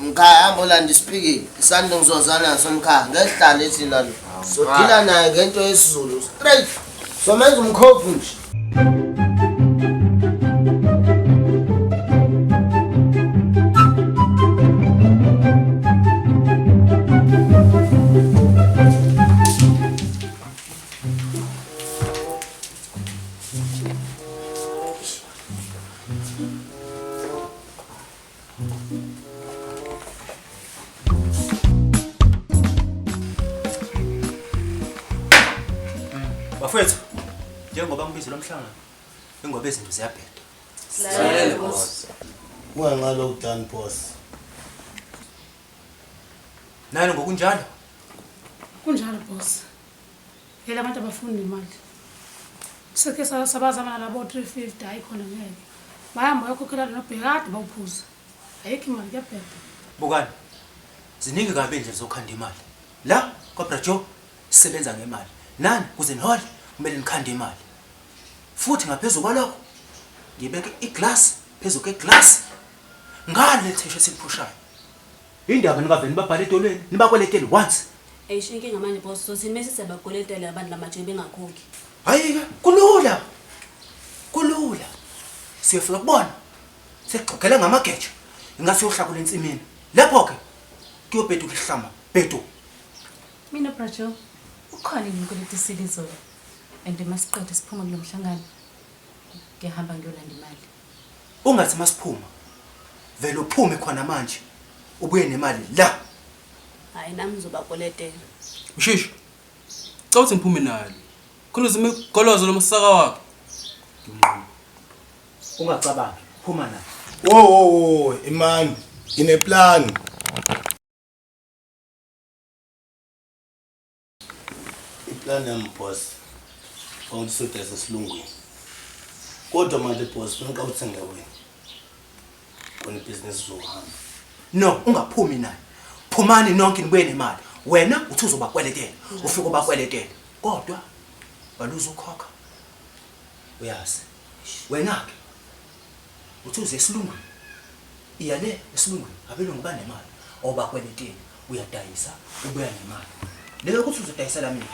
Mkhaya hamba olanda isiphikile. Isando ngizozana naso mkhaya. Ngehlala ethi lalo. Sodila naye ngento yesiZulu. Straight. Somenza umkhovu nje. Bafethu, njengoba ngibize lo mhlangano, ingoba izinto ziyabheda. Silalele boss. Unganqala ukudani boss. Nani ngokunjalo? Kunjalo boss. Phela abantu abafuni nemali. Sike sabazama nalabo 350 hayi khona ngeke. Bayamba bayokhokhela lona bhekade bawuphuza. Ayikho imali kuyabheda. Bukani. Ziningi kabi indlela zokhanda imali. La kwaBra Joe sisebenza ngemali. Nani kuze nihole kumele nikhande imali. Futhi ngaphezulu kwalokho ngibeke iglass phezu kweglass ngale thisha esiphushayo. Yini ndaba ningavele nibabhale edolweni nibakweletele what? Eish inkinga manje boss sothini mese siyabakweletela abantu lamajini bengakhokhi. Hayike kulula. Kulula. Siyofika kubona. Sekugxogela ngamageja. Ingase uhlakule ensimini. Lapho ke kuyobhedu kuhlama. Bhedu. Mina Brajo ukhona yini ukweleta isile izolo and masiqede siphuma kulomhlangano ngiyahamba ngiyolanda imali. Ungathi masiphuma vele uphume khona manje ubuye nemali la. Hayi nami ngizobakweletela. Mshishi. Cela ukuthi ngiphume nayo. Khona uzime golozo lomsaka wakho. Ngimnquma. Ungacabangi, phuma nayo. Wo wo wo, imani. Ngine plan. Iplan yami boss ukuthi sudese esilungwini kodwa manje boss funa uqawuthenge wena kona ibhizinisi zohamba no ungaphumi naye phumani nonke nibuye nemali wena uthi uzobakweletela ufike ubakweletela kodwa baluza ukhokha uyazi wena-ke Uthi uze esilungwini. Iya le esilungwini abelungu banemali obakweletini uyadayisa ubuya nemali. Leyo ukuthi uzodayisela mina.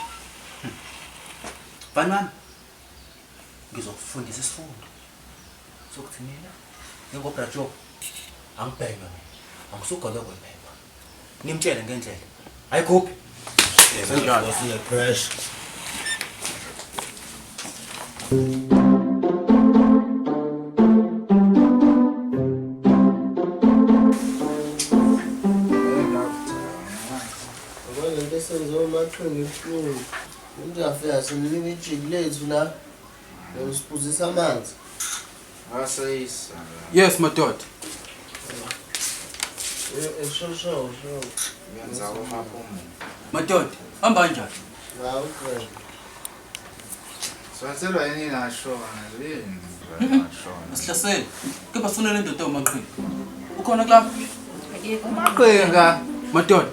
Hmm. Mfana wami ngizokufundisa isifundo sokuthi mina njengobrajob angibhekwe mina angisugolokwe mina. Nimtshele ngendlela. Ayikhuphi. Senjalo. Siya pressure. Ngeke senze umathunga ibuhlungu. Umuntu afika simnika ijiki lethu la. Usiphuzisa amanzi. Asayisa. Yes madoda. Eshosho. Yenza umaphumo. Madoda, hamba kanjani? Hawu kwena. Swatselwa yini nashona yini? Nashona. Asihlasele. Kepha sifuna le ndoda umaqhinga. Ukhona kulapha? Umaqhinga. Madoda,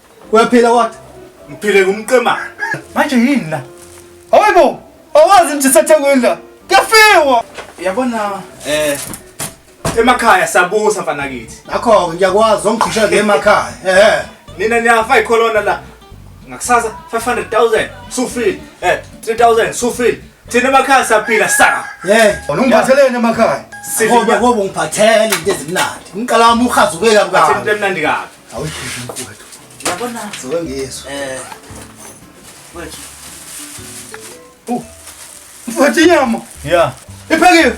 Uyaphila what? Ngiphile ngumqemane. Manje yini la? Hayibo, awazi nje sathekweni la. Kuyafiwa. Yabona eh emakhaya sabusa mfana kithi. Ngakho ngiyakwazi ongigqisha ke emakhaya. Eh. Nina niyafa icolona la. Ngakusasa 500,000 sufile. Eh 3000 sufile. Thina emakhaya saphila sa. Hey, ungiphatheleni emakhaya. Sifike ngoba ungiphathele into ezimnandi. Ngiqala wami uhazuke kabi kabi. Into emnandi kabi. Awusheshe mfowethu. Yabona sewengizwa. Eh. Wethu. Uh. Mfowethu inyama. Yeah. Iphekiwe.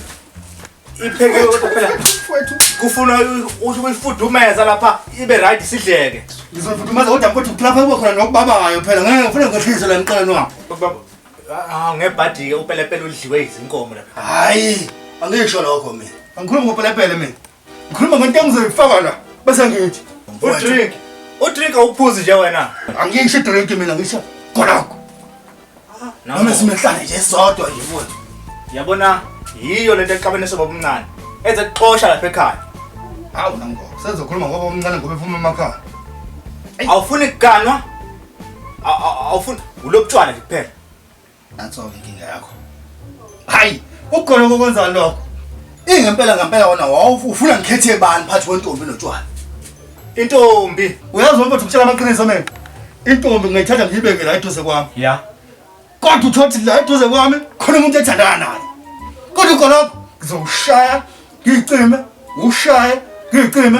Iphekiwe kodwa phela. Mfowethu. Kufuna usho kuyifudumeza lapha ibe right sidleke. Ngizofudumeza kodwa mfowethu kulapha kuba khona nokubabayo phela. Ngeke ngifune ngehlize la ngiqala nwa. Baba. Ah ngebhadike upelepele udliwe izinkomo lapha. Hayi. Angisho lokho mina. Angikhulumi ngopelepele mina. Ngikhuluma ngento engizoyifaka la bese ngithi udrink. Udrink awuphuzi nje wena. Angisho drink mina ngisho khonakho. Noma simehlane nje sodwa nje futhi. Yabona yiyo lento exabene soba omncane. Enze kuxosha lapha ekhaya. Hawu nango. Senzokhuluma ngoba omncane ngoba ephuma emakhaya. Awufuni kuganwa? Awufuni ulobutshwana nje kuphela. Nanso-ke inkinga yakho. Hayi, ukhona kokwenza lokho. Ingempela ngempela wona wawufuna ngikhethe bani phathi kwentombi notshwala. Intombi, uyazi wena ukuthi ukutshela amaqiniso mina. Intombi ngayithatha ngiyibeke la eduze kwami. Yeah. Kodwa uthothi la eduze kwami khona umuntu ethandana naye. Kodwa ukoloko ngizowushaya ngicime, ushaye ngicime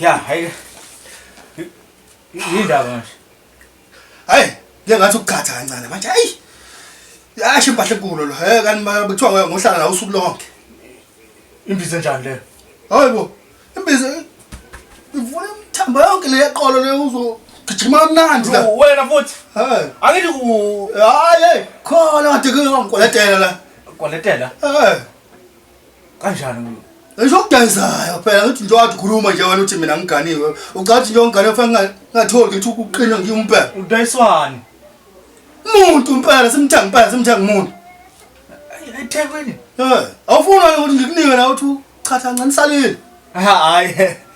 Ya, hayi. Yindaba manje. Hayi, ngeke ngathi ukugcatha kancane manje. Hayi. Yasho impahla enkulu lo. Hey kanti kuthiwa ngohlala nawe usuku lonke. Imbiza njani le? Hayibo. Imbiza ivula imthambo yonke le yeqolo le uzo gijima kamnandi la. Wena futhi. Hayi. Angithi ku hayi khona kade kuyongikwaletela la. Kwaletela? Hayi. Kanjani mina? Ngisho ukudayisayo phela ngithi nje wathi khuluma nje wena uthi mina ngiganiwe. Ucathi nje ongane fanele ngatholi ukuthi ukuqina ngiyimpela. Udayiswani? Umuntu impela simthenga impela simthenga umuntu. eThekwini Eh, awufuni wena ukuthi ngikunike la uthi chatha ncanisale. hayi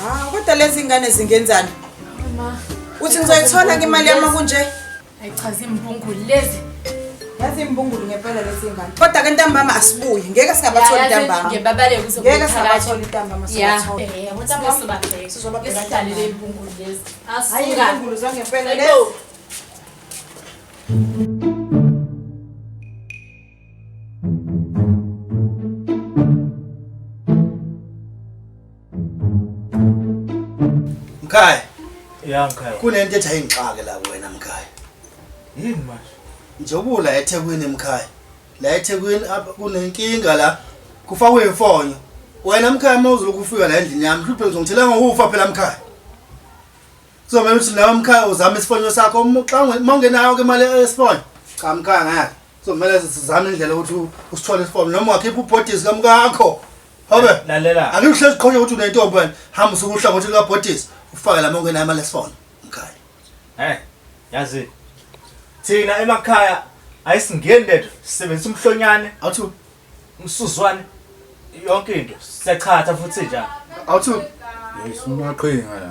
Ah, kodwa lezi ingane zingenzani? Mama. Uthi ngizoyithola ke imali yami kunje? Ayichazi imbungulu lezi. Yazi imbungulu ngempela lezi ingane. Kodwa ke ntambama asibuye. Ngeke singabathola ntambama. Ngeke babale kuzobuya. Ngeke singabathola ntambama singabathola. Yeah. Eh, ntambama sobabheke. Sizobabheka kanjani le imbungulu lezi? Asuka. Hayi imbungulu zangempela lezi. Mkhaya. Ya mkhaya. Kunento ethi ayingixake la wena mkhaya. Yini manje? Njengoba la eThekwini mkhaya. La eThekwini kunenkinga la. Kufakwe imfonyo. Wena mkhaya mawuzulu kufika la endlini yami, hluphe ngizongithela ngokufa phela mkhaya. Kuzomele ukuthi lawo mkhaya uzame isifonyo sakho uma xa unge- uma ungenayo ke imali yesifonyo. Cha mkhaya ngeke. Kuzomele sizame indlela ukuthi u- usithole isifonyo noma ungakhipha ubhodisi kamkakho. Hobe. Lalela. Ake uhlezi qhonye ukuthi unentombi wena. Hamba usuke uhlangothi likabhodisi ufake la uma ungenayo imali yesifonyo. Mkhaya. Eh, yazi. Thina emakhaya ayisingeni lethu sisebenzisa umhlonyane, Awuthi umsuzwane yonke into. Siyachatha futhi njalo. awuthi Yes, umaqhinga la.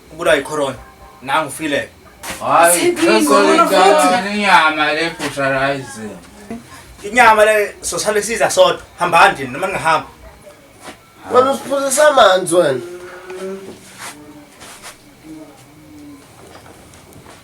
Ubulawa yicorona. Nangu ufile. Hayi, ngizolingana inyama le butcherize. Inyama le sosale siza sodwa. Hambani nje noma ningahamba. Wena usiphuzisa amanzi wena.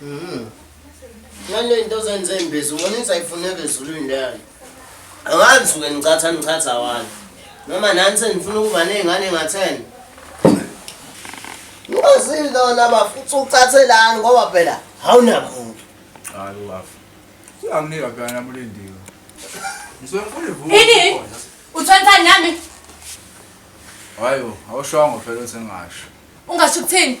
Mhm. Ngale into ozenze imbizo, ngona insayifuneke ezulwini leyo. Angazi ke ngicatha ngichatha wani. Noma nani senifuna ukuba nezingane ngatheni. Ngozini lona bafu uthi ucathelani ngoba phela awunamuntu. Hayi bafu. Uyanginika phela namulindiwe. Ngisuke ngifuna ivuka. Ini? Uthonthani nami? Hayo, awushongo phela uthi ngasho. Ungasho ukuthini?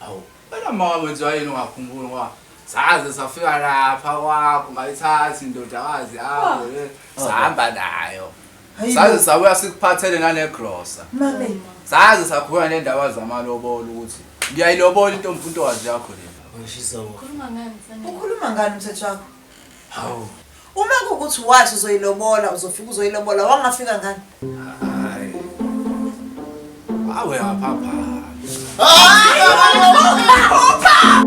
Awu, wena mama wenziwa yini ungakhumbuli ngoba saze safika lapha kwakho ngayithathi indodakazi yakho Oh. eh, sahamba nayo Hayi saze bo. sabuya sikuphathele nanegrosa Mame. saze sakhuluma nendaba zamalobolo ukuthi ngiyayilobola intombi untokazi yakho le Khuluma ngani mfana? Ukhuluma ngani umthetho wakho? Hawu. Uma kukuthi wathi uzoyilobola uzofika uzoyilobola wangafika ngani? Hayi. Awe aphapha. Hayi aphapha.